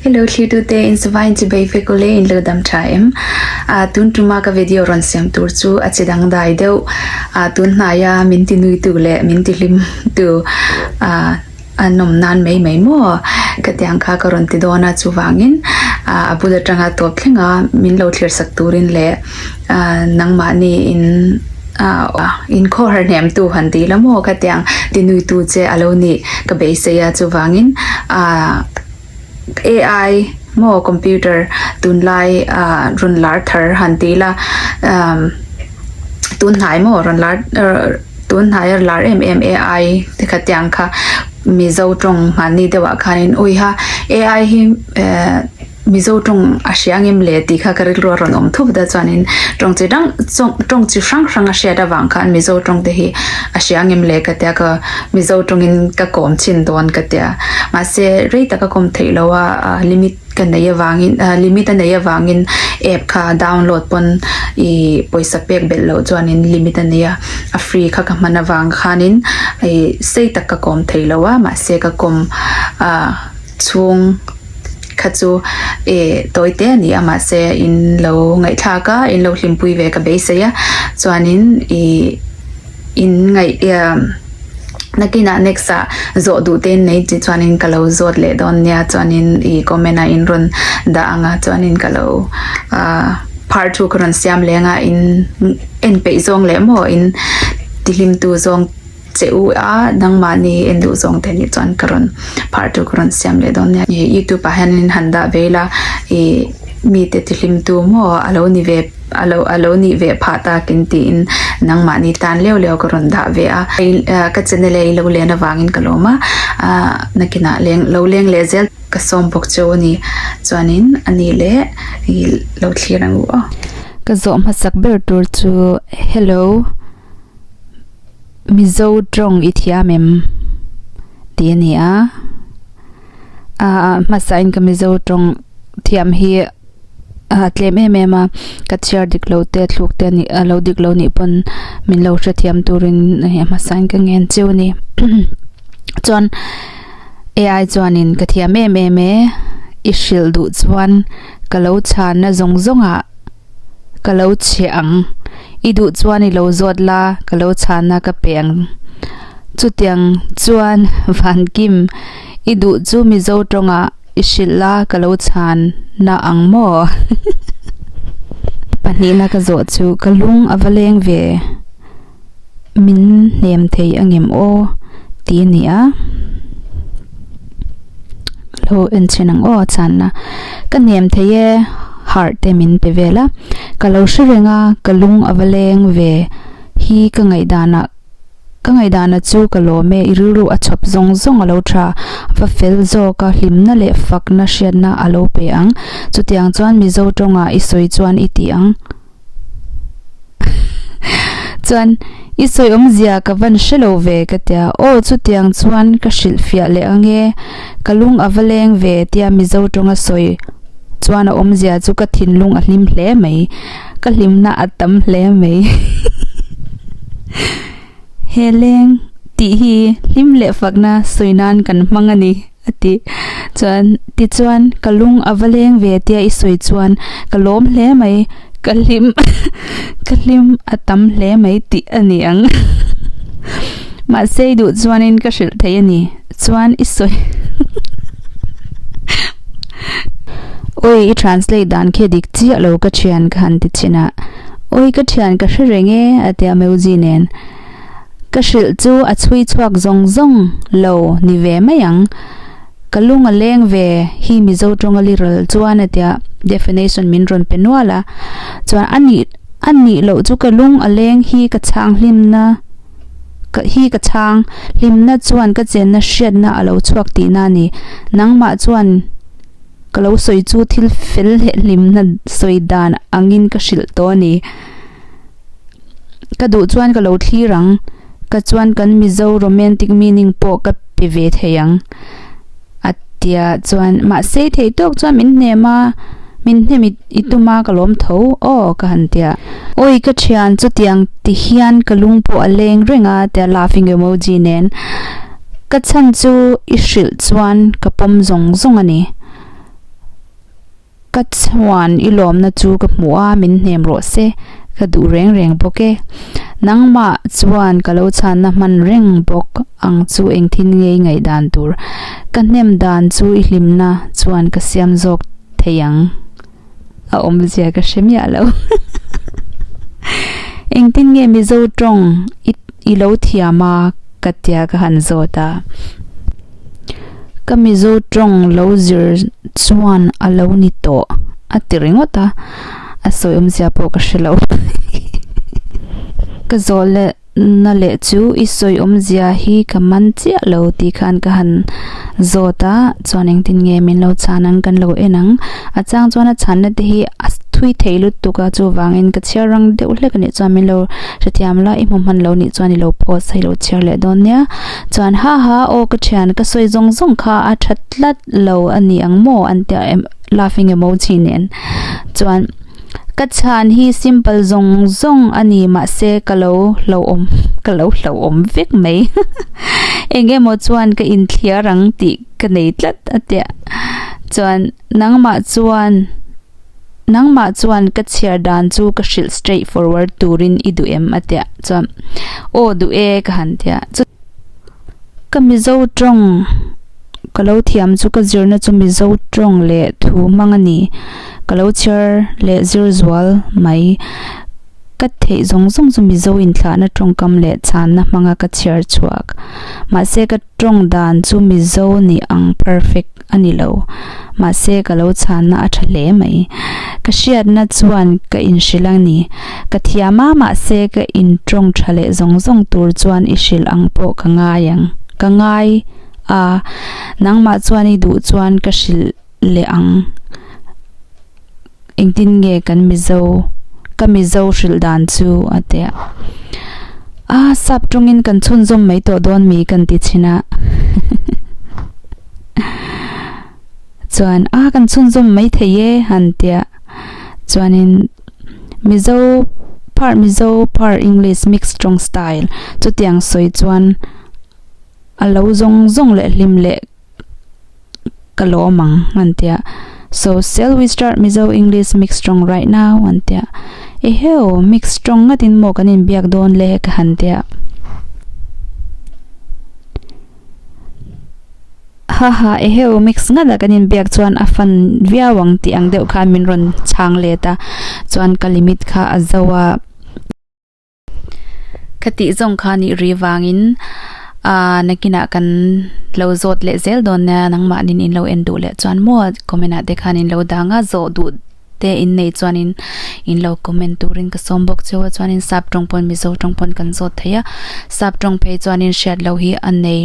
He lo thlir tu te in sava in chibei vek aw le in lo dam tha em ah tun tuma ka video rawn siam tur chu a che dang dai deuh ah tun hnai a min ti nui tu leh min ti hlim tu ah a nawm nan mai mai maw ka ti ang kha ka rawn ti dawn a chuvangin ah a bul atanga tawp thleng a min lo thlir sak turin leh-- Ahh nangmahni in ahh in khaw har hnem tu han ti la maw ka ti ang ti nui tu che a lo nih ka beisei a chuvangin ahh ai maw computer tunlai ahh rawn lar thar han ti la umm tunhnai maw rawn lar tunhnai a lar em em ai te ka ti ang kha mizo tawng hmanni deuhah khan in uiha ai hi ehh. Mizo tawng a hria ngem le tih kha ka rilru a rawn awm thup deuh chuanin tawng chi hrang chawng tawng chi hrang hrang a hriat avang khan Mizo tawng te hi a hria ngem le ka tia ka Mizo tawngin ka kawm chin dawn ka tia mahse rei taka kawm theih lo a limit ka nei avangin ah limit a nei avangin app kha download pawn ih pawisa pek belh loh chuanin limit a nei a a free kha ka hman avang khanin ih sei tak ka kawm theih lo a mahse ka kawm ah. chhung kha chu eh tawi te a ni a mahse in lo ngaihthlak a in lo hlimpui ve ka beisei a chuanin ih in ngaih iam nakin ah next ah zawh duh te in nei tih chuanin ka lo zawt leh dawn nia chuanin ih comment ah in rawn dah ang a chuanin ka lo ah phar thu ka rawn siam leng a in en peih zawng leh maw in ti hlimtu zawng-- che u a, nangmahni en duh zawng te nih chuan ka rawn phar tur ka rawn siam leh dawn nia, he youtube ah hian in han dah ve ila ih mite tihlim tu maw a lo ni ve a lo a lo nih ve phah tak in tih in nangmahni tan leuh leuh ka rawn dah ve a, ah ka channel a i lo len avang in ka lawm a, ah nakin ah leng lo leng leh zel ka sawm bawk che u ni chuan in a ni le ih lo thlir ang u aw. Ka zawh hmasak ber tur chu hello. Mizo tawng i thiam em? tih a ni a. Aaa hmasahin ka Mizo tawng thiam hi aa tlem em em a, ka chhiar dik lo te thluk te nih a lo dik lo nih pawn min lo hrethiam turin hei hmasahin ka ngen cheu a ni. Chuan AI chuanin ka thiam em em e, i hrilh duh chuan ka lo chhanna zawng zawngah. Ka lo chhe ang. I duh chuan i lo zawt la, ka lo chhana ka pe ang. Chutiang chuan Vankim, i duh chu Mizo tawngah i hrilh la, ka lo chhan na ang maw? Pahnihna ka zawh chu ka lung a va leng ve. Min hnem thei a ngem aw ti a ni a. Lo en chhin ang aw a channa. Ka hnem thei e, harh te min pe vel a. Ka lo hre reng a, ka lung a va leng ve. Hi ka ngaihdan ah, ka ngaihdan a chu ka lawm e, i rilru a chhawp zawng zawng a lo tha. Va fel zawk a, hlimna leh fakna hriatna a lo pe ang. Chutiang chuan Mizo tawng ah i sawi chuan i tih ang. Chuan i sawi awmzia ka van hre lo ve ka tia. Aw chutiang chuan ka hrilh fiah leh ange, ka lung a va leng ve tia Mizo tawnga sawi chuan a awmzia chu ka thinlung a hlim hle mai. Ka hlimna a tam hle mai. He leng tih hi hlim leh fakna sawi nan kan hmang a ni, a ti. Chuan, tichuan ka lung a va leng ve tia i sawi chuan ka lawm hle mai, ka hlim ka hlim a tam hle mai tih a ni ang. Mahse i duh chuan ka hrilh theih a ni. chuan i sawi Awi i translate dan khi a dik chiah lo ka thian ka han ti chin a Awi ka thian ka hre reng e a ti a Meuzi nen Ka hrilh chu a chhui chhuak zawng zawng lo ni ve mai ang ka lung a leng ve hi Mizo tawnga li ral chuan a ti a Definition min rawn pe nual a chuan a nih a nih loh chu ka lung a leng hi ka chhang hlimna. Ka hi ka chhang, hlimna chuan ka chenna hriatna a lo chhuak tihna a ni. Nangmah chuan ka lo sawi chu thil fel leh hlimna sawi dan angin ka hrilh tawh a ni. Ka duh chuan ka lo thlir ang. Ka chuan kan Mizo romantic meaning pawh ka pe ve thei ang. a ti a chuan mahse thei tawk chuan min hnem a, min hnem i i tum a ka lawm tho aw ka han ti a, awi ka thian chutiang ti hian ka lung pawh a leng reng a tia laughing emoji nen ka chhan chu i hrilh chuan ka pawm zawng zawng a ni. Ka chuan i lawmna chu ka hmu a, min hnem rawh se, ka duh reng reng bawk e. Nangmah chuan ka lo chhanna hman reng bawk ang chu engtin nge i ngaih dan tur? Ka hnem dan chu i hlimna chuan ka siam zawk thei ang. A awmzia ka hre miah lo. Engtin nge Mizo tawng i lo thiam a? ka tia ka han zawt a. Ka Mizo tawng lo zir chuan a lo ni tawh a ti ringawt a, a sawi awmzia pawh ka hre lo. Ka zawlna leh chu i sawi awmzia hi ka man chiah lo tih khan ka han zawt a, chuan engtin nge min lo chhan ang kan lo en ang. A chang chuan a chhanna te hi a thui thei lutuk a, chuvangin ka chhiar rang deuh hlek a nih chuan min lo hrethiam la, i hmuhman lo nih chuan i lo post a, i lo chhiar leh dawn nia. Chuan ha ha aw ka thian ka sawi zawng zawng kha a tha tlat lo a ni ang maw an tia em laughing emoji nen chuan ka chhan hi simple zawng zawng a ni mahse ka lo hlauhawm ka lo hlauhawm vek mai eng emaw chuan ka inthliar ang tih ka nei tlat a tia chuan nangmah chuan Nangmah chuan ka chhiar dan chu ka hrilh straight forward turin i duh em? a ti a, chuan Aw duh e ka han ti a, chuti ka Mizo tawng ka lo thiam chu ka zirna chu Mizo tawng leh thu hmang a ni, ka lo chhiar leh zir zual mai, ka theih zawng zawng chu Mizo inthlahna tawngkam leh chhanna hmanga ka chhiar chhuak, mahse ka tawng dan chu Mizo ni ang perfect a ni lo. Mahse ka lo chhanna a tha hle mai. Ka hriatna chuan ka inhrilh a ni. Ka thiam a, mahse ka in tawng tha leh zawng zawng tur chuan i hrilh ang pawh ka ngai ang. Ka ngai a, nangmah chuan i duh chuan ka hrilh leh ang. Engtin nge kan Mizo, ka Mizo hrilh dan chu? a ti a. A sap tawngin kan chhunzawm mai tawh dawn mi kan ti chhin a. Chuan a kan chhunzawm mai thei e han ti a. Chuanin Mizo phar Mizo phar English mix tawng style chutiang sawi chuan a lo zawng zawng leh hlim leh ka lawm ang an ti a. So shall we start Mizo English mix strong right now? an ti a. I heo, mix strong ngatin maw kan inbiak dawn le? ka han ti a. Haha, i heo mix ngat a kan inbiak chuan a fun viau ang tih ang deuh kha min rawn chhang let a. Chuan ka limit kha a zau a. Ka tih zawng kha nih rih vangin ahh na kinah kan lo zawt leh zel dawn nia nangmah nin in lo en duh leh chuan maw comment ah te khan in lo dang a zawh duh te in nei chuan in in lo comment turin ka sawm bawk cheu a chuanin sap tawng pawn mizo tawng pawn kan zawt thei a sap tawng phei chuan in hriat loh hi a nei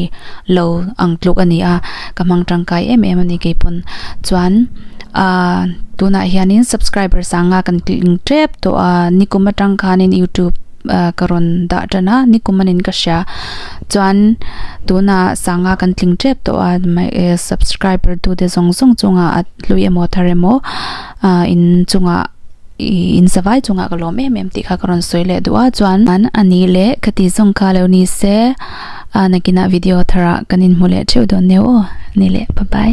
lo ang tluk a ni a ka hmang tangkai em em a ni kei pawn chuan. Ahh tunah hianin subscribers a nga kan tling tep tawh a, nikum atang khanin youtube ka rawn dah tan a, nikum anin ka hria chuan tuna sanga kan tling tep tawh a subscriber tu te zawng zawng chunga hlui emaw thar emaw ahh in chunga ihh in savai chunga ka lawm em em tih kha ka rawn sawi leh duh a chuan an ani le ka ti zawng kha lo ni se ahh nakinah video thar ah kan inhmu leh theuh dawn neu aw nile pa pai.